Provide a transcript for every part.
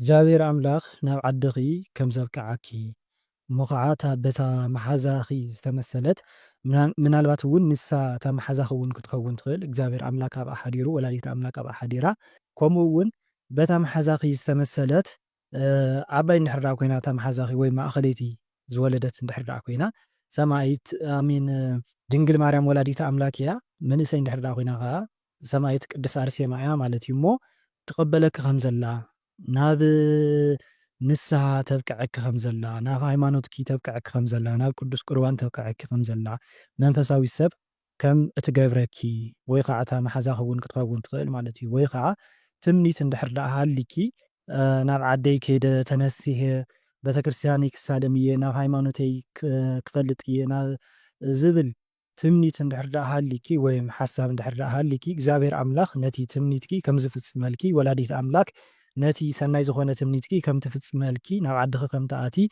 እግዚኣብሔር ኣምላክ ናብ ዓድኺ ከም ዘብቅዓኪ እሞ ኸዓ እታ በታ መሓዛኺ ዝተመሰለት ምናልባት እውን ንሳ እታ መሓዛኺ እውን ክትከውን ትኽእል እግዚኣብሔር ኣምላክ ኣብኣ ሓዲሩ ወላዲተ ኣምላክ ኣብኣ ሓዲራ ከምኡ እውን በታ መሓዛኺ ዝተመሰለት ዓባይ እንድሕር ደኣ ኮይና እታ መሓዛኺ ወይ ማእኸለይቲ ዝወለደት እንድሕር ደኣ ኮይና ሰማዒት ኣሜን ድንግል ማርያም ወላዲተ ኣምላክ እያ መንእሰይ እንድሕር ደኣ ኮይና ኸዓ ሰማኢት ቅድስት ኣርሴማ እያ ማለት እዩ እሞ ትቀበለኪ ከም ዘላ ናብ ንስሃ ተብቅዐኪ ከም ዘላ ናብ ሃይማኖትኪ ተብቅዐኪ ከም ዘላ ናብ ቅዱስ ቁርባን ተብቅዐኪ ከም ዘላ መንፈሳዊት ሰብ ከም እትገብረኪ ወይ ኸዓ እታ መሓዛኺ እውን ክትኸውን ትኽእል ማለት እዩ ወይ ኸዓ ትምኒት እንድሕር ደኣ ሃልይኪ ናብ ዓደይ ከይደ ተነሲሀ ቤተክርስትያነይ ክሳለም እየ ናብ ሃይማኖተይ ክፈልጥ እየ ናብ ዝብል ትምኒት እንድሕር ደኣ ሃልይኪ ወይም ሓሳብ እንድሕር ደኣ ሃልይኪ እግዚኣብሔር ኣምላኽ ነቲ ትምኒትኪ ከም ዝፍጽመልኪ ወላዲት ኣምላክ ነቲ ሰናይ ዝኾነ ትምኒትኪ ከም ትፍጽመልኪ ናብ ዓድኺ ከም ትኣትዪ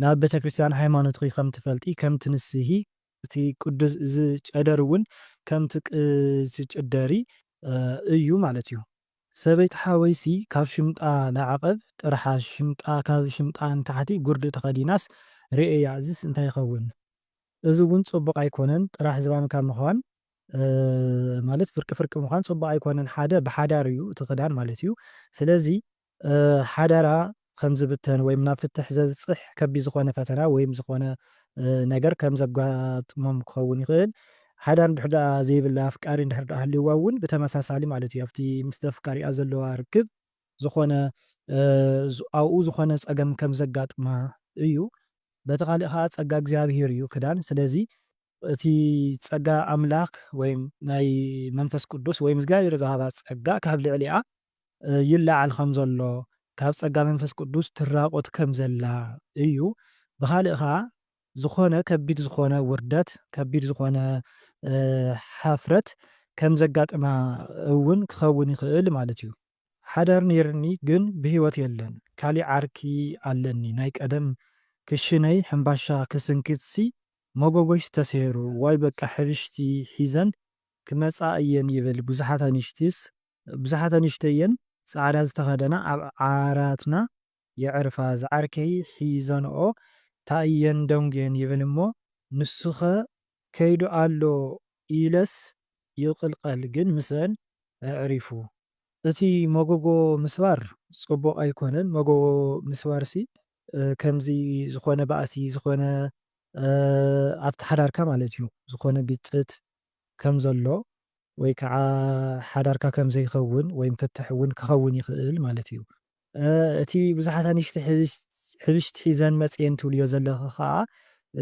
ናብ ቤተክርስትያን ሃይማኖትኺ ከም ትፈልጢ ከም ትንስሂ እቲ ቅዱስ እዚ ጨደር እውን ከም ትጭደሪ እዩ ማለት እዩ። ሰበይቲ ሓወይሲ ካብ ሽምጣ ንዓቐብ ጥርሓ ሽምጣ ካብ ሽምጣ ንታሕቲ ጉርዲ ተኸዲናስ ርኤያ እዝስ እንታይ ይኸውን? እዚ እውን ፅቡቕ ኣይኮነን ጥራሕ ዝባንካ ምዃን ማለት ፍርቂ ፍርቂ ምዃን ፅቡቕ ኣይኮነን ሓደ ብሓዳር እዩ እቲ ክዳን ማለት እዩ ስለዚ ሓዳራ ከምዝብተን ወይም ናብ ፍትሕ ዘብፅሕ ከቢድ ዝኾነ ፈተና ወይም ዝኾነ ነገር ከምዘጋጥሞም ክኸውን ይኽእል ሓዳር እንድሕር ደኣ ዘይብላ ኣፍቃሪ እንድሕር ደኣ ሃልይዋ እውን ብተመሳሳሊ ማለት እዩ ኣብቲ ምስቲ ኣፍቃሪኣ ዘለዋ ርክብ ዝኾነ ኣብኡ ዝኾነ ጸገም ከም ዘጋጥማ እዩ በቲ ካልእ ከኣ ጸጋ እግዚኣብሄር እዩ ክዳን ስለዚ እቲ ጸጋ ኣምላክ ወይም ናይ መንፈስ ቅዱስ ወይም እግዚኣብሄር ዝሃባ ጸጋ ካብ ልዕሊኣ ይለዓል ከም ዘሎ ካብ ጸጋ መንፈስ ቅዱስ ትራቆት ከም ዘላ እዩ ብካልእ ከኣ ዝኾነ ከቢድ ዝኾነ ውርደት፣ ከቢድ ዝኾነ ሓፍረት ከም ዘጋጥማ እውን ክኸውን ይኽእል ማለት እዩ። ሓዳር ነይርኒ ግን ብህይወት የለን፣ ካሊእ ዓርኪ ኣለኒ፣ ናይ ቀደም ክሽነይ ሕምባሻ ክስንክትሲ መጎጎሽ ተሰይሩ፣ ዋይ በቃ ሕብሽቲ ሒዘን ክመፃ እየን ይብል ብዙሓት ኣንሽቲስ ብዙሓት ኣንሽተይን ፃዕዳ ዝተኸደና ኣብ ዓራትና የዕርፋ ዝዓርከይ ሒዘንኦ ታእየን ደንጉየን ይብል እሞ ንሱኸ ከይዱ ኣሎ ኢለስ ይቕልቐል ግን ምስኣን ኣዕሪፉ። እቲ መጎጎ ምስባር ጽቡቕ ኣይኮነን መጎጎ ምስባርሲ ከምዚ ዝኾነ ባእሲ ዝኾነ ኣብቲ ሓዳርካ ማለት እዩ ዝኾነ ግጭት ከም ዘሎ ወይ ከዓ ሓዳርካ ከም ዘይኸውን ወይም ፍትሕ እውን ክኸውን ይኽእል ማለት እዩ። እቲ ብዙሓት ኣንሽቲ ሕብሽቲ ሒዘን መጽየን ትብልዮ ዘለኺ ከኣ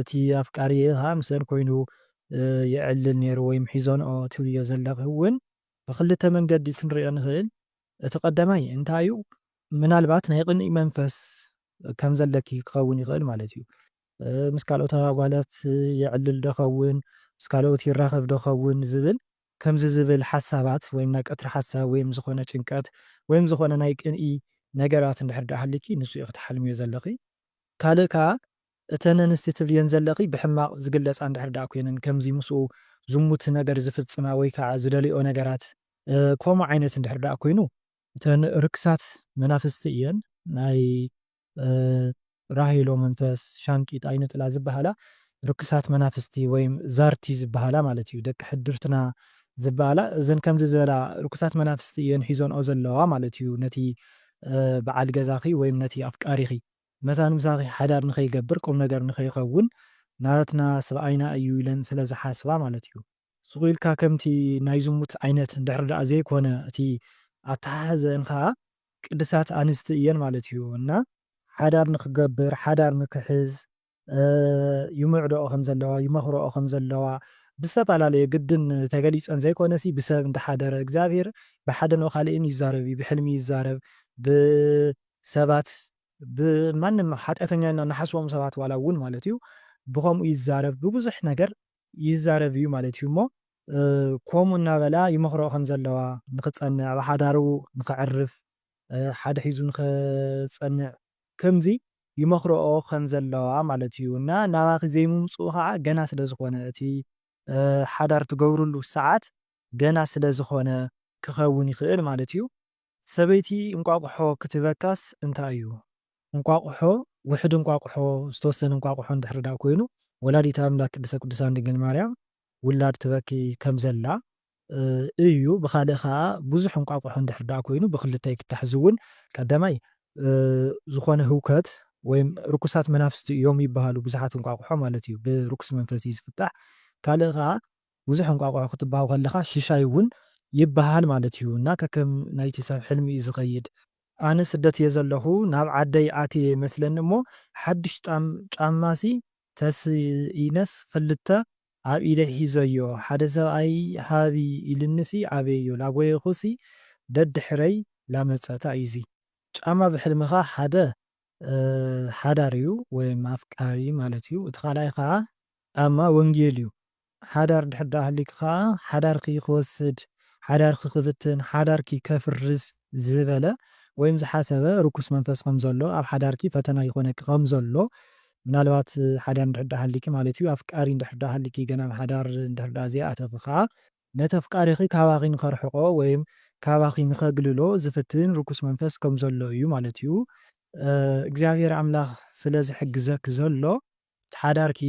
እቲ ኣፍቃሪኤ ከኣ ምስኣን ኮይኑ የዕልል ኔሩ ወይም ሒዘንኦ ትብልዮ ዘለኺ ውን ብኽልተ መንገዲ ክንሪኦ ንኽእል እቲ ቀዳማይ እንታዩ ምናልባት ናይ ቅንኢ መንፈስ ከም ዘለኪ ክኸውን ይኽእል ማለት እዩ ምስ ካልኦት ኣጓላት የዕልል ዶ ኸውን ምስ ካልኦት ይራኸብ ዶ ኸውን ዝብል ከምዚ ዝብል ሓሳባት ወይም ናይ ቀትሪ ሓሳብ ወይም ዝኾነ ጭንቀት ወይም ዝኾነ ናይ ቅንኢ ነገራት እንድሕር ድኣ ሃልዩኪ ንሱ ኢኺ ትሓልምዮ ዘለኺ። ካልእ ከኣ እተን እንስቲ ትብልየን ዘለኺ ብሕማቕ ዝግለጻ እንድሕር ድኣ ኮይነን ከምዚ ምስኡ ዝሙት ነገር ዝፍጽማ ወይ ከኣ ዝደልይኦ ነገራት ከምኡ ዓይነት እንድሕር ድኣ ኮይኑ፣ እተን ርክሳት መናፍስቲ እየን ናይ ራሄሎ መንፈስ ሻንቂጥ ኣይንጥላ ዝብሃላ ርክሳት መናፍስቲ ወይም ዛርቲ ዝብሃላ ማለት እዩ ደቂ ሕድርትና ዝብኣላ እዘን ከምዚ ዝበላ ርኩሳት መናፍስቲ እየን ሒዞንኦ ዘለዋ ማለት እዩ ነቲ ብዓል ገዛኺ ወይም ነቲ ኣፍቃሪኺ መታን ምሳኺ ሓዳር ንኸይገብር ቁምነገር ንኸይኸውን ናትና ስብኣይና እዩ ኢለን ስለ ዝሓስባ ማለት እዩ። ሱቕ ኢልካ ከምቲ ናይ ዝሙት ዓይነት እንድሕሪ ደኣ ዘይኮነ እቲ ኣተሓሕዘእን ከኣ ቅድሳት ኣንስቲ እየን ማለት እዩ እና ሓዳር ንክገብር ሓዳር ንክሕዝ ይምዕደኦ ከም ዘለዋ ይመክረኦ ከም ዘለዋ ብዝተፈላለየ ግድን ተገሊፀን ዘይኮነሲ ብሰብ እንዳሓደረ እግዚኣብሔር ብሓደ ን ኻሊእን ይዛረብ እዩ ብሕልሚ ይዛረብ ብሰባት ብማንም ሓጥያተኛ ኢልና ንሓስቦም ሰባት ዋላ እውን ማለት እዩ ብከምኡ ይዛረብ ብብዙሕ ነገር ይዛረብ እዩ ማለት እዩ እሞ ኮምኡ እናበላ ይመኽርኦ ከም ዘለዋ ንኽጸንዕ ኣብ ሓዳሩ ንኽዕርፍ ሓደ ሒዙ ንኽጸንዕ ከምዚ ይመኽርኦ ከም ዘለዋ ማለት እዩ እና ናባኺ ዘይምምጽኡ ኸኣ ገና ስለ ዝኾነ እቲ ሓዳር ትገብርሉ ሰዓት ገና ስለ ዝኾነ ክኸውን ይኽእል ማለት እዩ። ሰበይቲ እንቋቑሖ ክትህበካስ እንታይ እዩ እንቋቑሖ ውሕድ እንቋቑሖ ዝተወሰነ እንቋቑሖ እንድሕሪ ድኣ ኮይኑ ወላዲተ ኣምላክ ቅድስተ ቅዱሳን ድንግል ማርያም ውላድ ትበኪ ከም ዘላ እዩ ብኻልእ ከኣ ብዙሕ እንቋቑሖ እንድሕሪ ድኣ ኮይኑ ብኽልተ ይፍታሕ እዚ እውን ቀዳማይ ዝኾነ ህውከት ወይም ርኩሳት መናፍስቲ እዮም ይብሃሉ ብዙሓት እንቋቑሖ ማለት እዩ ብርኩስ መንፈስ እዩ ዝፍታሕ ካልእ ከኣ ብዙሕ እንቋቑሖ ክትብሃው ከለኻ ሽሻይ ውን ይብሃል ማለት ዩ እና ከከም ናይቲ ሰብ ሕልሚ ዩ ዝኸይድ። ኣነ ስደት እየ ዘለኹ ናብ ዓደይ ኣትየ ይመስለኒ እሞ ሓዱሽ ጣም ጫማ ሲ ተስኢነስ ኽልተ ኣብ ኢደይ ሒዘዮ ሓደ ሰብኣይ ሃቢ ኢሉኒ ሲ ኣበዮ ላጎየኹ ሲ ደድሕረይ ላመጸ ታይ እዩ እዚ ጫማ ብሕልምኻ ሓደ ሓዳር እዩ ወይም ኣፍቃሪ ማለት እዩ እቲ ካልኣይ ኸኣ ኣማ ወንጌል እዩ ሓዳር ድሕር ድኣ ሃሊኪ ከኣ ሓዳርኪ ክወስድ ሓዳርኪ ክብትን ሓዳርኪ ከፍርስ ዝበለ ወይም ዝሓሰበ ርኩስ መንፈስ ከም ዘሎ ኣብ ሓዳርኪ ፈተና ይኮነኪ ከም ዘሎ ምናልባት ሓዳር ድሕር ድኣ ሃሊኪ ማለት እዩ ኣፍቃሪ ድሕር ድኣ ሃሊኪ ገና ኣብ ሓዳር ድሕር ድኣ ዘይኣተኪ ከኣ ነቲ ኣፍቃሪኪ ካባኪ ንከርሕቆ ወይም ካባኪ ንከግልሎ ዝፍትን ርኩስ መንፈስ ከም ዘሎ እዩ ማለት እዩ እግዚኣብሄር ኣምላክ ስለ ዝሕግዘኪ ዘሎ ሓዳርኪ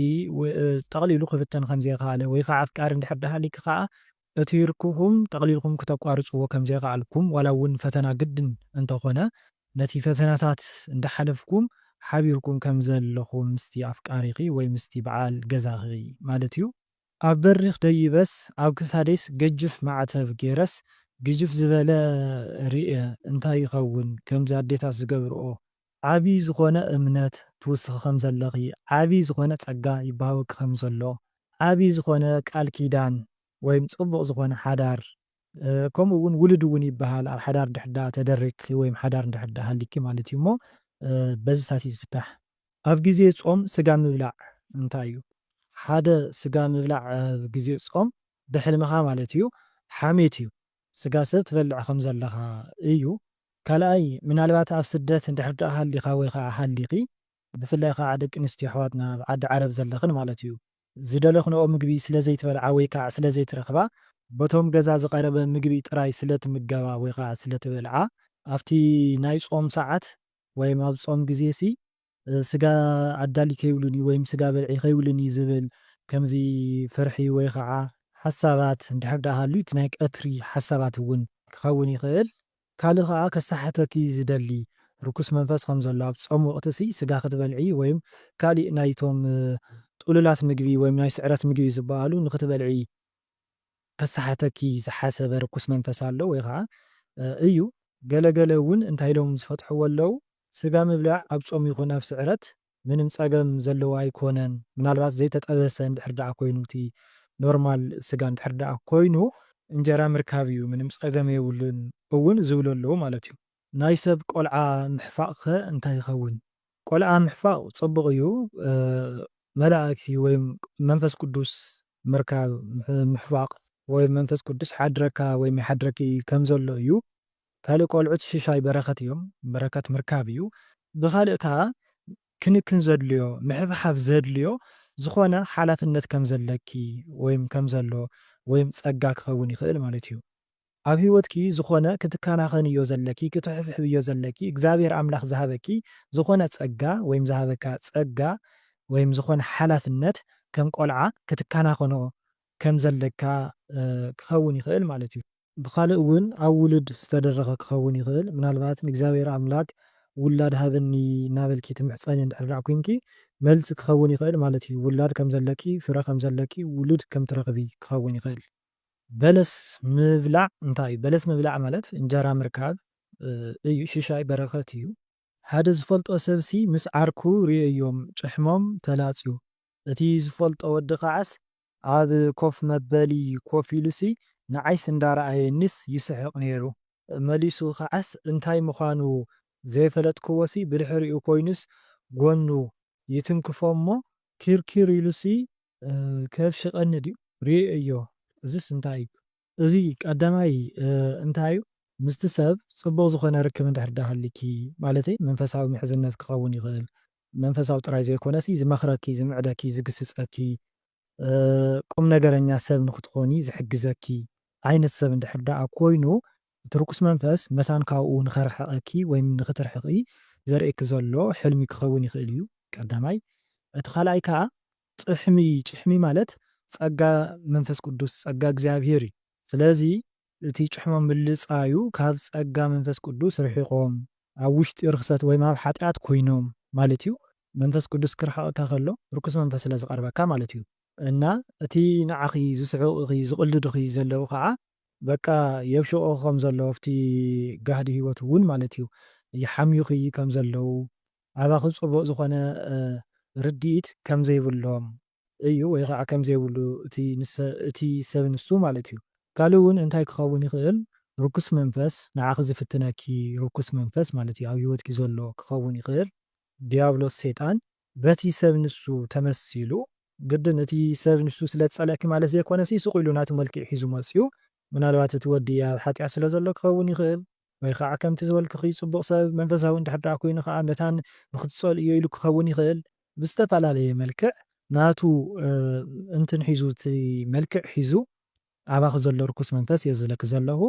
ጠቕሊሉ ክብተን ከም ዘይከኣለ ወይ ከኣ ኣፍቃሪ እንድሕር ደሃሊኪ ከኣ እቲ ርክብኩም ጠቕሊልኩም ክተቋርጽዎ ከም ዘይከኣልኩም ዋላ እውን ፈተና ግድን እንተ ኾነ ነቲ ፈተናታት እንዳ ሓለፍኩም ሓቢርኩም ከም ዘለኹም ምስቲ ኣፍቃሪኺ ወይ ምስቲ በዓል ገዛኺ ማለት እዩ ኣብ በሪኽ ደይበስ ኣብ ክሳደይስ ገጅፍ ማዕተብ ጌረስ ግጅፍ ዝበለ ርእየ እንታይ ይኸውን ከምዚ ኣዴታት ዝገብርኦ ዓቢ ዝኾነ እምነት ትውስኺ ከም ዘለኺ፣ ዓቢ ዝኾነ ጸጋ ይበሃወኪ ከም ዘሎ፣ ዓቢ ዝኾነ ቃል ኪዳን ወይም ጽቡቕ ዝኾነ ሓዳር ከምኡ እውን ውሉድ እውን ይበሃል ኣብ ሓዳር እንድሕር ደኣ ተደሪግኪ ወይም ሓዳር እንድሕር ደኣ ሃልዩኪ ማለት እዩ እሞ በዚታት እዩ ዝፍታሕ። ኣብ ግዜ ጾም ስጋ ምብላዕ እንታይ እዩ? ሓደ ስጋ ምብላዕ ኣብ ግዜ ጾም ብሕልምኻ ማለት እዩ ሓሜት እዩ። ስጋ ሰብ ትበልዕ ከም ዘለኻ እዩ። ካልኣይ ምናልባት ኣብ ስደት እንድሕር ድኣ ሃሊኻ ወይ ኸኣ ሃሊኺ ብፍላይ ኸኣ ደቂ ኣንስትዮ ኣሕዋትና ኣብ ዓዲ ዓረብ ዘለኽን ማለት እዩ ዝደለኽንኦ ምግቢ ስለ ዘይትበልዓ ወይ ከኣ ስለ ዘይትረኽባ በቶም ገዛ ዝቐረበ ምግቢ ጥራይ ስለ ትምገባ ወይ ኸኣ ስለ ትበልዓ ኣብቲ ናይ ጾም ሰዓት ወይም ኣብ ጾም ግዜሲ ስጋ ኣዳሊ ከይብሉኒ ወይም ስጋ በልዒ ከይብሉኒ ዝብል ከምዚ ፍርሒ ወይ ኸዓ ሓሳባት እንድሕር ደኣ ሃልዩ እቲ ናይ ቀትሪ ሓሳባት እውን ክኸውን ይኽእል። ካልእ ኸዓ ከሰሓተኪ ዝደሊ ርኩስ መንፈስ ከም ዘሎ ኣብ ጾም ወቕቲሲ ስጋ ክትበልዒ ወይም ካሊእ ናይቶም ጥሉላት ምግቢ ወይም ናይ ስዕረት ምግቢ ዝበሃሉ ንክትበልዒ ከሰሓተኪ ዝሓሰበ ርኩስ መንፈስ ኣሎ ወይ ኸኣ እዩ። ገለ ገለ እውን እንታይ ኢሎም ዝፈትሕዎ ኣለዉ፣ ስጋ ምብላዕ ኣብ ጾም ይኹን ኣብ ስዕረት ምንም ጸገም ዘለዎ ኣይኮነን፣ ምናልባት ዘይተጠበሰ እንድሕር ደኣ ኮይኑ እቲ ኖርማል ስጋ እንድሕር ደኣ ኮይኑ፣ እንጀራ ምርካብ እዩ ምንም ጸገም የብሉን እውን ዝብሉ ኣለዉ ማለት እዩ። ናይ ሰብ ቆልዓ ምሕፋቅከ እንታይ ይከውን። ቆልዓ ምሕፋቅ ጽቡቅ እዩ መላእክቲ ወይ መንፈስ ቅዱስ ምርካብ ምሕፋቅ ወይ መንፈስ ቅዱስ ይሓድረካ ወይ ይሓድረኪ ከም ዘሎ እዩ ካልእ ቆልዑት ሽሻይ በረከት እዮም በረከት ምርካብ እዩ ብካልእ ከኣ ክንክን ዘድልዮ ምሕብሓብ ዘድልዮ ዝኮነ ሓላፍነት ከም ዘለኪ ወይ ከም ዘሎ ወይ ጸጋ ክከውን ይክእል ማለት እዩ ኣብ ሂወትኪ ዝኮነ ክትካናከንዮ ዘለኪ ክትሕብሕብዮ ዘለኪ እግዚኣብሔር ኣምላክ ዝሃበኪ ዝኮነ ጸጋ ወይም ዝሃበካ ጸጋ ወይም ዝኮነ ሓላፍነት ከም ቆልዓ ክትካናከኖ ከም ዘለካ ክከውን ይክእል ማለት እዩ። ብካልእ ውን ኣብ ውሉድ ዝተደረከ ክከውን ይክእል ምናልባት ንእግዚኣብሔር ኣምላክ ውላድ ሃበኒ እናበልኪ ትምሕጸኒ እንድሕር ኮይንኪ መልሲ ክከውን ይክእል ማለት እዩ ውላድ ከም ዘለኪ ፍረ ከም ዘለኪ ውሉድ ከም ትረክቢ ክከውን ይክእል በለስ ምብላዕ እንታይ እዩ? በለስ ምብላዕ ማለት እንጀራ ምርካብ እዩ፣ ሽሻይ በረኸት እዩ። ሓደ ዝፈልጦ ሰብሲ ምስ ዓርኩ ርእዮም ጭሕሞም ተላጽዩ፣ እቲ ዝፈልጦ ወዲ ከዓስ ኣብ ኮፍ መበሊ ኮፍ ኢሉሲ ንዓይስ እንዳረኣየኒስ ይስሕቕ ነይሩ። መሊሱ ከዓስ እንታይ ምዃኑ ዘይፈለጥክዎሲ ብድሕሪኡ ኮይኑስ ጎኑ ይትንክፎ'ሞ ኪርኪር ኢሉሲ ከብሺ ቀኒ ድዩ ሪኤዮ እዝስ እንታይ እዩ። እዚ ቀዳማይ እንታይ እዩ ምስቲ ሰብ ጽቡቅ ዝኮነ ርክብ እንድሕር ድኣ ሃልይኪ ማለተይ መንፈሳዊ ምሕዝነት ክከውን ይክእል መንፈሳዊ ጥራይ ዘይኮነሲ ዝመክረኪ ዝምዕደኪ ዝግስጸኪ ቁምነገረኛ ሰብ ንክትኮኒ ዝሕግዘኪ ዓይነት ሰብ እንድሕር ድኣ ኮይኑ እቲ ርኩስ መንፈስ መታን ካብኡ ንኸርሕቐኪ ወይም ንኽትርሕቒ ዘርእየኪ ዘሎ ሕልሚ ክኸውን ይኽእል እዩ፣ ቀዳማይ። እቲ ካልኣይ ከኣ ጭሕሚ፣ ጭሕሚ ማለት ጸጋ መንፈስ ቅዱስ፣ ጸጋ እግዚኣብሄር እዩ። ስለዚ እቲ ጭሕሞም ምልጻዩ ካብ ጸጋ መንፈስ ቅዱስ ርሒቖም ኣብ ውሽጢ ርኽሰት ወይም ኣብ ሓጢኣት ኮይኖም ማለት እዩ። መንፈስ ቅዱስ ክርሕቐካ ከሎ ርኩስ መንፈስ ስለ ዝቐርበካ ማለት እዩ። እና እቲ ንዓኺ ዝስሕቑኺ ዝቕልዱኺ ዘለዉ ከኣ በቃ የብሽቑኺ ከም ዘሎ ኣብቲ ጋህዲ ህይወት እውን ማለት እዩ ይሓምዩኺ ከም ዘለዉ ኣባኺ ፅቡቕ ዝኾነ ርድኢት ከም ዘይብሎም እዩ ወይ ኸዓ ከም ዘይብሉ እቲ ሰብ ንሱ ማለት እዩ ካልእ እውን እንታይ ክኸውን ይኽእል ርኩስ መንፈስ ንዓኺ ዝፍትነኪ ርኩስ መንፈስ ማለት እዩ ኣብ ህይወትኪ ዘሎ ክኸውን ይኽእል ዲያብሎስ ሰይጣን በቲ ሰብ ንሱ ተመሲሉ፣ ግድን እቲ ሰብ ንሱ ስለ ዝጸልኣኪ ማለት ዘይኮነሲ ስቕ ኢሉ ናቱ መልክዕ ሒዙ መጺኡ፣ ምናልባት እቲ ወዲ ኣብ ሓጢኣት ስለ ዘሎ ክኸውን ይኽእል፣ ወይ ኸኣ ከምቲ ዝበልክኺ ጽቡቕ ሰብ መንፈሳዊ እንድሕር ደኣ ኮይኑ ኸኣ መታን ንኽትጸልእዮ ኢሉ ክኸውን ይኽእል፣ ብዝተፈላለየ መልክዕ ናቱ እንትን ሒዙ እቲ መልክዕ ሒዙ ኣባኺ ዘሎ ርኩስ መንፈስ እየ ዝብለኪ ዘለኹ፣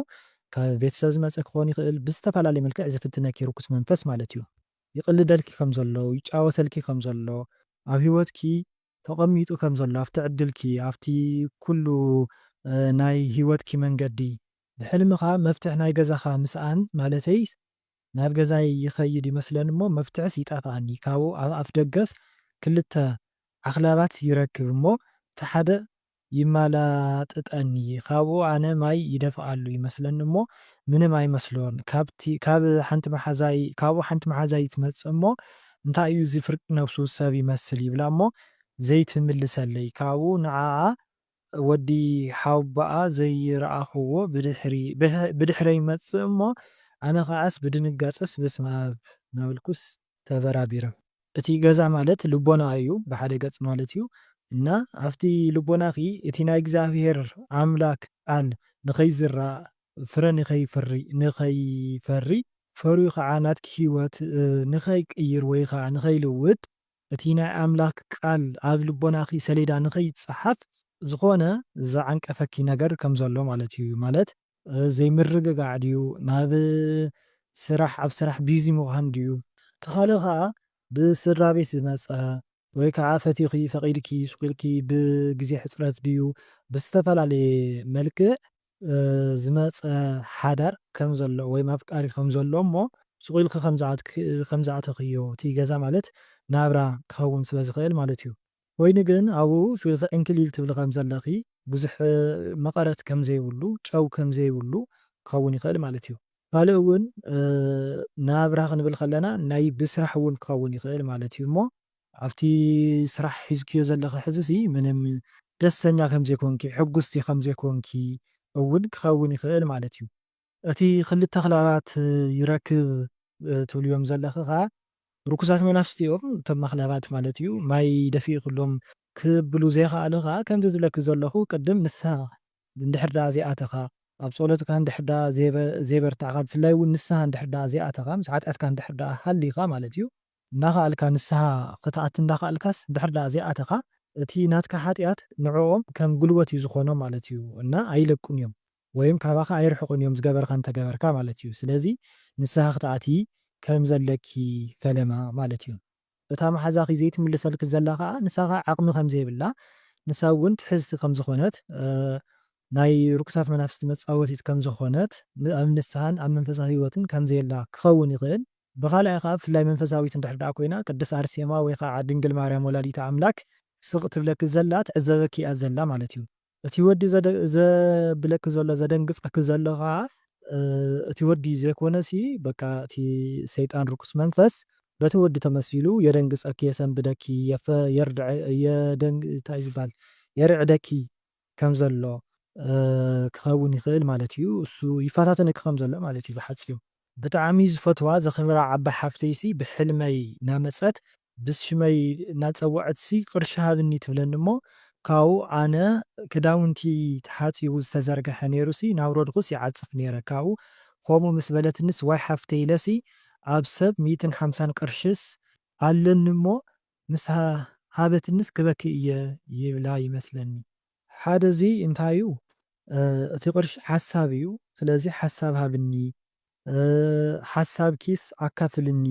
ካብ ቤተሰብ ዝመጸ ክኾን ይኽእል፣ ብዝተፈላለየ መልክዕ ዝፍትነኪ ርኩስ መንፈስ ማለት እዩ። ይቅልደልኪ ከም ዘሎ ይጫወተልኪ ከም ዘሎ ኣብ ሂወትኪ ተቀሚጡ ከም ዘሎ ኣብቲ ዕድልኪ ኣብቲ ኩሉ ናይ ሂወትኪ መንገዲ። ብሕልምካ መፍትሕ ናይ ገዛካ ምስኣን ማለተይ ናብ ገዛይ ይከይድ ይመስለን እሞ መፍትሕስ ይጠፍኣኒ ካብኡ ኣፍደገስ ክልተ ዓክላባት ይረክብ እሞ እቲ ሓደ ይማላጥጠኒ ካብኡ ኣነ ማይ ይደፍኣሉ ይመስለኒ እሞ ምንም ኣይመስሎን ካብቲ ካብ ሓንቲ መሓዛይ ካብኡ ሓንቲ መሓዛይ ትመጽእ እሞ እንታይ እዩ እዚ ፍርቂ ነብሱ ሰብ ይመስል ይብላ እሞ ዘይትምልሰለይ ካብኡ ንዓኣ ወዲ ሓውቦኣ ዘይረኣኹዎ ብድሕሪ ብድሕረይ ይመጽእ እሞ ኣነ ከኣስ ብድንጋጸስ በስመኣብ ናበልኩስ ተበራቢረ። እቲ ገዛ ማለት ልቦና እዩ ብሓደ ገጽ ማለት እዩ እና ኣብቲ ልቦናኺ እቲ ናይ እግዚኣብሔር ኣምላክ ቃል ንኸይዝራእ ፍረ ንኸይፍሪ ንኸይፈሪ ፈርዩ ኸዓ ናትኪ ሕይወት ንኸይቅይር ወይ ኸዓ ንኸይልውጥ እቲ ናይ ኣምላክ ቃል ኣብ ልቦናኺ ሰሌዳ ንኸይጸሓፍ ዝኾነ ዝዓንቀፈኪ ነገር ከም ዘሎ ማለት እዩ ማለት ዘይምርግጋዕ ድዩ ናብ ስራሕ ኣብ ስራሕ ቢዚ ምዃን ድዩ? እቲ ካልእ ከኣ ብስድራቤት ዝመጸ ወይ ከኣ ፈቲኺ ፈቒድኪ ሱቕ ኢልኪ ብግዜ ሕጽረት ድዩ ብዝተፈላለየ መልክዕ ዝመጸ ሓዳር ከም ዘሎ ወይም ኣፍቃሪ ከም ዘሎ እሞ ሱቕ ኢልኪ ከም ዝኣተኽዮ እቲ ገዛ ማለት ናብራ ክኸውን ስለ ዝኽእል ማለት እዩ። ኮይኑ ግን ኣብኡ ፊልኺ ዕንክሊል ትብሊ ከም ዘለኺ ብዙሕ መቐረት ከም ዘይብሉ ጨው ከም ዘይብሉ ክኸውን ይኽእል ማለት እዩ። ካልእ እውን ናብራ ክንብል ከለና ናይ ብስራሕ እውን ክኸውን ይኽእል ማለት እዩ እሞ ኣብቲ ስራሕ ሒዝክዮ ዘለኺ ሕዚሲ ምንም ደስተኛ ከም ዘይኮንኪ ሕጉስቲ ከም ዘይኮንኪ እውን ክኸውን ይኽእል ማለት እዩ። እቲ ክልተ ክለባት ይረክብ ትብልዮም ዘለኺ ከኣ ርኩሳት መናፍስቲ እዮም እቶም ኣኽላባት ማለት እዩ ማይ ደፊእክሎም ክብሉ ዘይክኣሉ ከኣ ከምዚ ዝብለኪ ዘለኹ ቅድም ንስሃ እንድሕር ደኣ ዘይኣተኻ ኣብ ጾሎትካ እንድሕር ደኣ ዘይበርታዕካ ብፍላይ ውን ንስሃ እንድሕር ደኣ ዘይኣተኻ ምስ ሓጢኣትካ እንድሕር ደኣ ሃሊኻ ማለት እዩ እናኸኣልካ ንስሃ ክትኣቲ እንዳኸኣልካስ እንድሕር ደኣ ዘይኣተኻ እቲ ናትካ ሓጢኣት ንዕኦም ከም ጉልበት እዩ ዝኾኖም ማለት እዩ እና ኣይለቁን እዮም ወይም ካባኻ ኣይርሕቁን እዮም ዝገበርኻ እንተገበርካ ማለት እዩ ስለዚ ንስሃ ክትኣትዪ ከም ዘለኪ ፈለማ ማለት እዩ እታ ማሓዛኺ ዘይትምልሰልኪ ዘላ ካኣ ንሳኻ ዓቅሚ ከም ዘይብላ ንሳ ውን ትሕዝቲ ከም ዝኾነት ናይ ርኩሳት መናፍስቲ መጻወቲት ከም ዝኾነት ኣብ ንስሃን ኣብ መንፈሳዊ ሂወትን ከም ዘየላ ክኸውን ይኽእል ብኻልኣይ ካኣ ብፍላይ መንፈሳዊት እንድሕር ዳኣ ኮይና ቅድስት ኣርሴማ ወይ ካኣ ድንግል ማርያም ወላዲተ ኣምላክ ስቅ ትብለኪ ዘላ ትዕዘበኪ እያ ዘላ ማለት እዩ እቲ ወዲ ዘብለኪ ዘሎ ዘደንግጸኪ ዘሎ ከኣ እቲ ወዲ ዘይኮነሲ በቃ እቲ ሰይጣን ርኩስ መንፈስ በቲ ወዲ ተመሲሉ የደንግጸኪ የሰንብደኪ እንታይ ዝባሃል የርዕደኪ ከም ዘሎ ክከውን ይክእል ማለት እዩ እሱ ይፋታተነኪ ከም ዘሎ ማለት እዩ ብሓጺሩ። ብጣዕሚ ዝፈትዋ ዘክብራ ዓባይ ሓፍተይሲ ብሕልመይ ናመጸት ብሽመይ እናጸወዐትሲ ቅርሺ ሃብኒ ትብለኒ እሞ ካብኡ ኣነ ክዳውንቲ ተሓጺቡ ዝተዘርገሐ ነይሩሲ እናውረድኩስ ይዓጽፍ ነይረ ካብኡ ከምኡ ምስ በለትኒስ ዋይ ሓፍተይ ኢለሲ ኣብ ሰብ ሚእትን ሓምሳን ቅርሽስ ኣለኒ እሞ ምስ ሃበትኒስ ክበኪ እየ ይብላ ይመስለኒ። ሓደ እዚ እንታይ እዩ እቲ ቅርሺ ሓሳብ እዩ ስለዚ ሓሳብ ሃብኒ ሓሳብኪስ ኣካፍልኒ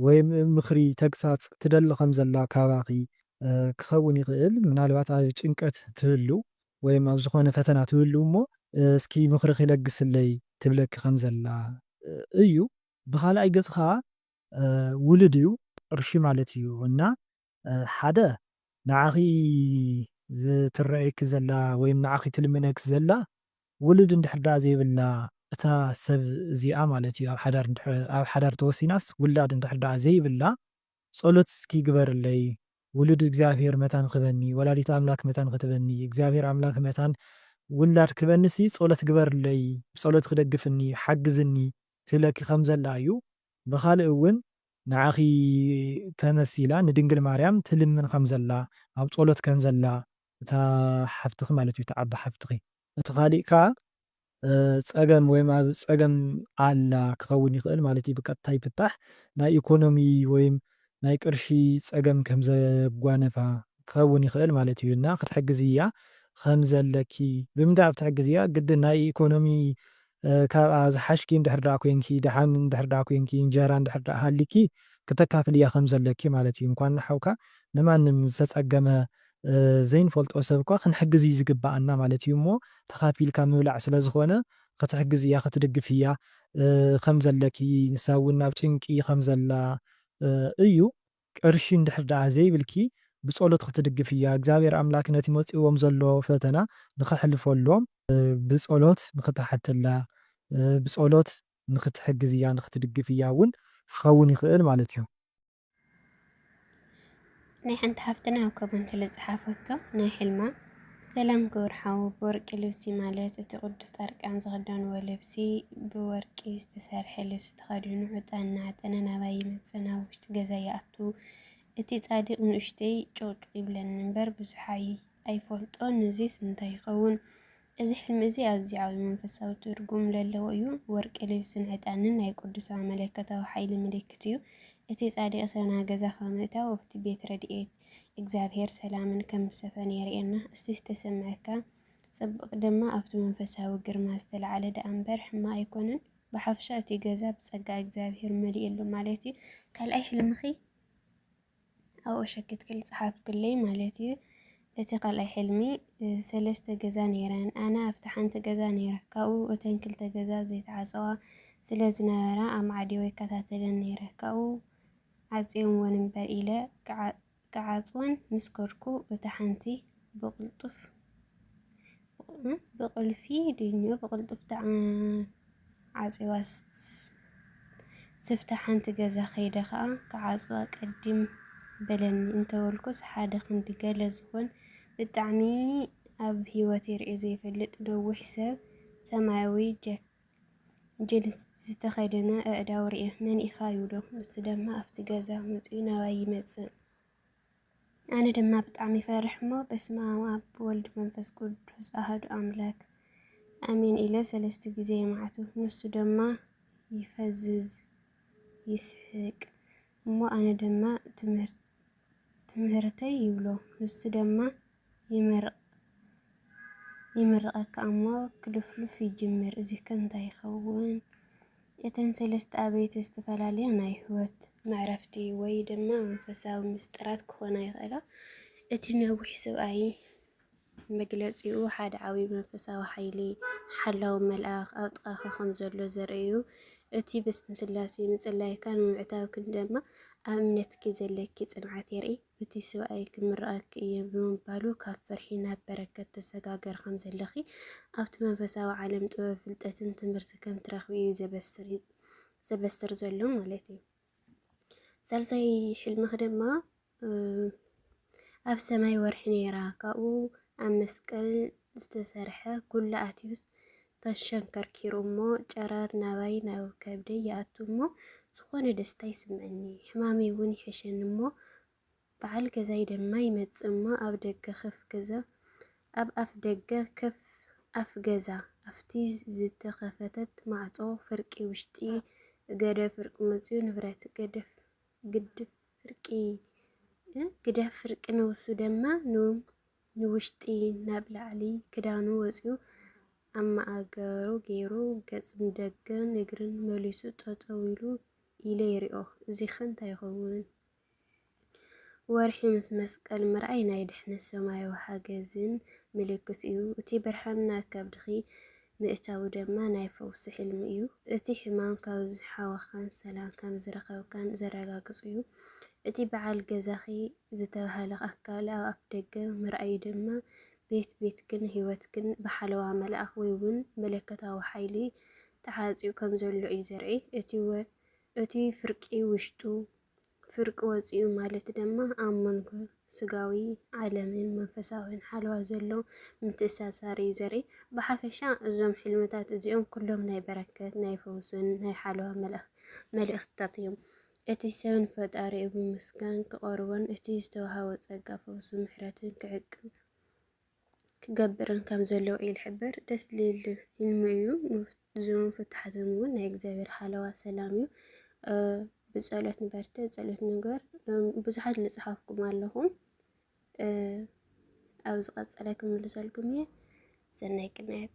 ወይ ምኽሪ፣ ተግሳጽ፣ ትደሊ ከም ዘላ ካባኺ ክኸውን ይኽእል። ምናልባት ኣብ ጭንቀት ትህሉ ወይ ኣብ ዝኾነ ፈተና ትህሉ እሞ እስኪ ምኽርኺ ለግስለይ ትብለኪ ከም ዘላ እዩ። ብኻልኣይ ገጽ ከኣ ውሉድ እዩ፣ ቅርሺ ማለት እዩ እና ሓደ ንዓኺ ዝትረኣየኪ ዘላ ወይም ንዓኺ ትልምነኪ ዘላ ውሉድ እንድሕር ደኣ ዘይብላ እታ ሰብ እዚኣ ማለት እዩ ኣብ ሓዳር እንድሕር ኣብ ሓዳር ተወሲናስ ውላድ እንድሕር ደኣ ዘይብላ ጸሎት እስኪ ግበርለይ ውሉድ እግዚኣብሄር መታን ክበኒ ወላዲተ ኣምላክ መታን ክትበኒ እግዚኣብሄር ኣምላክ መታን ውላድ ክበኒሲ ጸሎት ግበርለይ ብጸሎትኪ ደግፍኒ ሓግዝኒ ትብለኪ ከም ዘላ እዩ ብኻልእ እውን ንዓኺ ተመስ ኢላ ንድንግል ማርያም ትልምን ከም ዘላ ኣብ ጸሎት ከም ዘላ እታ ሓፍትኺ ማለት እዩ እታ ዓባይ ሓፍትኺ። እቲ ካሊእ ከኣ ጸገም ወይም ኣብ ጸገም ኣላ ክኸውን ይኽእል ማለት እዩ ብቀጥታ ይፍታሕ ናይ ኢኮኖሚ ወይም ናይ ቅርሺ ጸገም ከም ዘጓነፋ ክኸውን ይኽእል ማለት እዩ እና ክትሕግዝያ ከም ዘለኪ ብምንታይ ኣብ ትሕግዝያ ግድን ናይ ኢኮኖሚ ካብኣ ዝሓሽኪ እንድሕር ደኣ ኮይንኪ፣ ደሓን እንድሕር ደኣ ኮይንኪ፣ እንጀራ እንድሕር ደኣ ሃልይኪ ክተካፍልያ ከም ዘለኪ ማለት እዩ። እንኳን ንሓውካ ንማንም ዝተጸገመ ዘይንፈልጦ ሰብ እኳ ክንሕግዝ እዩ ዝግበኣና ማለት እዩ እሞ ተኻፊልካ ምብላዕ ስለ ዝኾነ ክትሕግዝያ ክትድግፍያ ከም ዘለኪ ንሳ እውን ኣብ ጭንቂ ከም ዘላ እዩ ቅርሺ እንድሕር ደኣ ዘይብልኪ ብጸሎት ክትድግፍያ እግዚኣብሔር ኣምላክ ነቲ መጺእዎም ዘሎ ፈተና ንከሕልፈሎም ብጸሎት ንክትሓተላ ብጸሎት ንክትሕግዝያ ንክትድግፍያ እውን ክከውን ይክእል ማለት እዩ። ናይ ሓንቲ ሓፍትና ኣብ ኮመንት ልጽሓፈቶ ናይ ሕልማ። ሰላም ክቡር ሓው ብወርቂ ልብሲ ማለት እቲ ቅዱስ ጻድቃን ዝኽደንዎ ልብሲ ብወርቂ ዝተሰርሐ ልብሲ ተኸዲኑ ዕጣን እናዓጠነ ናባይ ይመጽእ ናብ ውሽጢ ገዛ ይኣቱ እቲ ጻድቅ ንእሽተይ ጭቕጭቕ ይብለኒ እምበር ብዙሕ ኣይፈልጦን። እዙይስ እንታይ ይኸውን? እዚ ሕልሚ እዚ ኣዝዩ ዓብዪ መንፈሳዊ ትርጉም ዘለዎ እዩ። ወርቂ ልብስን ዕጣንን ናይ ቅዱሳን መለኮታዊ ሓይሊ ምልክት እዩ። እቲ ጻድቅ ሰብና ገዛ ካብ ምእታው ኣብቲ ቤት ረድኤት እግዚኣብሔር ሰላምን ከም ዝሰፈነ የርእየና። እስቲ ዝተሰምዐካ ጽብቅ ድማ ኣብቲ መንፈሳዊ ግርማ ዝተላዕለ ደኣ እምበር ሕማቅ ኣይኮነን። ብሓፍሻ እቲ ገዛ ብጸጋ እግዚኣብሔር መሊኡ ኣሎ ማለት እዩ። ካልኣይ ሕልምኺ ኣብኡ ሸክትክል ጸሓፍክለይ ማለት እዩ። እቲ ካልኣይ ሕልሚ ሰለስተ ገዛ ነይረን ኣነ ኣብቲ ሓንቲ ገዛ ነይረ ካብኡ እተን ክልተ ገዛ ዘይተዓፀዋ ስለ ዝነበራ ኣማዕዲዮ ይከታተለን ነይረ ካብኡ ዓጽዮምወን እምበር ኢለ ክዓጽወን ምስ ከድኩ፣ እታ ሓንቲ ብቕልጡፍ-ብቕልፊ ድዩ ብቕልጡፍ ተዓጽዩዋ፣ ስፍታ ሓንቲ ገዛ ከይደ ከኣ ክዓጽዋ ቀዲም በለኒ እንተበልኩስ፣ ሓደ ክንዲ ገለ ዝኾን ብጣዕሚ ኣብ ህይወተይ ርእየ ዘይፈልጥ ነዊሕ ሰብ ሰማያዊ ጃኬት፣ ጅንስ ዝተኸደነ ኣእዳው ርእየ መን ኢኻ ይብሎ። ንሱ ድማ ኣብቲ ገዛ መጺኡ ናባይ ይመጽእ። ኣነ ድማ ብጣዕሚ ይፈርሕ እሞ በስመ ኣብ ኣብ ወልድ መንፈስ ቅዱስ ኣህዱ ኣምላክ ኣሜን ኢለ ሰለስተ ግዜ የማዕቱ። ንሱ ድማ ይፈዝዝ ይስሕቅ እሞ ኣነ ድማ ትምህርቲ ትምህርተይ ይብሎ ንሱ ደማ ይምርቐካ እሞ ክልፍሉፍ ይጅምር እዚከ እንታይ ይኸውን እተን ሰለስተ ኣበይቲ ዝተፈላለያ ናይ ህይወት መዕረፍቲ ወይ ድማ መንፈሳዊ ምስጢራት ክኾና ይኽእላ እቲ ነዊሕ ስብኣይ መግለጺኡ ሓደ ዓብዪ መንፈሳዊ ሓይሊ፣ ሓላው መልኣኽ፣ ኣብ ጥቓኻ ኸም ዘሎ ዘርኢ እዩ። እቲ ብስም ስላሴ ምጽላይካን ምምዕታውክን ድማ ኣብ እምነትኪ ዘለኪ ጽንዓት የርኢ። እቲ ሰብኣይ ክምርኣኪ እየ ብምባሉ ካብ ፍርሒ ናብ በረከት ተሰጋገሪ ከም ዘለኺ፣ ኣብቲ መንፈሳዊ ዓለም ጥበብ፣ ፍልጠትን ትምህርቲ ከም ትረኽቢ እዩ ዘበስር ዘሎ ማለት እዩ። ሳልሳይ ሕልምኺ ድማ ኣብ ሰማይ ወርሒ ነይራ ካብኡ ኣብ መስቀል ዝተሰርሐ ኩሉ ኣትዩስ ተሸንከርኪሩ እሞ ጨረር ናባይ ናብ ከብደይ ይኣቱ እሞ ዝኾነ ደስታ ይስምዐኒ ሕማመይ እውን ይሕሸኒ እሞ በዓል ገዛይ ድማ ይመጽእ እሞ ኣብ ደገ ከፍ ገዛ ኣብ ኣፍ ደገ ከፍ ኣፍ ገዛ ኣብቲ ዝተኸፈተት ማዕጾ ፍርቂ ውሽጢ ገደ ፍርቂ መጽኡ ንብረት ገደፍ ግድፍ ፍርቂ ግደፍ ፍርቂ ነብሱ ደማ ንውሽጢ ናብ ላዕሊ ክዳኑ ወጺኡ ኣብ ማእገሩ ገይሩ ገጽ ንደገን እግርን መሊሱ ጠጠው ኢሉ ኢለ ይሪኦ እዚኸ እንታይ ይኸውን? ወርሒ ምስ መስቀል ምርኣይ ናይ ድሕነት ሰማያዊ ሓገዝን ምልክት እዩ። እቲ ብርሃን ናብ ከብድኺ ምእታዉ ደማ ናይ ፈዉሲ ሕልሚ እዩ። እቲ ሕማም ካብ ዝሓወኻን ሰላም ከም ዝረኸብካን ዘረጋግጽ እዩ። እቲ በዓል ገዛኺ ዝተባህለ ኣካል ኣብ ኣፍደገ ምርኣዩ ደማ ቤት ቤትክን ህይወትክን ብሓለዋ መልኣኽ ወይ ዉን መለኮታዊ ሓይሊ ተዓጽዩ ከም ዘሎ እዩ ዘርኢ። እቲ ፍርቂ ዉሽጡ ፍርቂ ወጺኡ ማለት ደማ ኣብ መንጎ ስጋዊ ዓለምን መንፈሳዊን ሓለዋ ዘሎ ምትእሳሳር እዩ ዘርኢ። ብሓፈሻ እዞም ሕልምታት እዚኦም ኩሎም ናይ በረከት፣ ናይ ፈውስን ናይ ሓለዋ መልእኽትታት እዮም። እቲ ሰብን ፈጣሪኡ ብምስጋን ክቐርቦን እቲ ዝተዋህቦ ጸጋ ፈውስን ምሕረትን ክዕቅብ ክገብርን ከም ዘለዎ እዩ ዝሕበር። ደስ ልል ህልሚ እዩ። እዞም ፍትሓት እውን ናይ እግዚኣብሔር ሓለዋ ሰላም እዩ። ብፀሎት ንበርተ ፀሎት ንገር ብዙሓት ልፅሓፍኩም ኣለኹም ኣብ ዝቐፀለ ክምልሰልኩም እየ። ሰናይ ቅንያት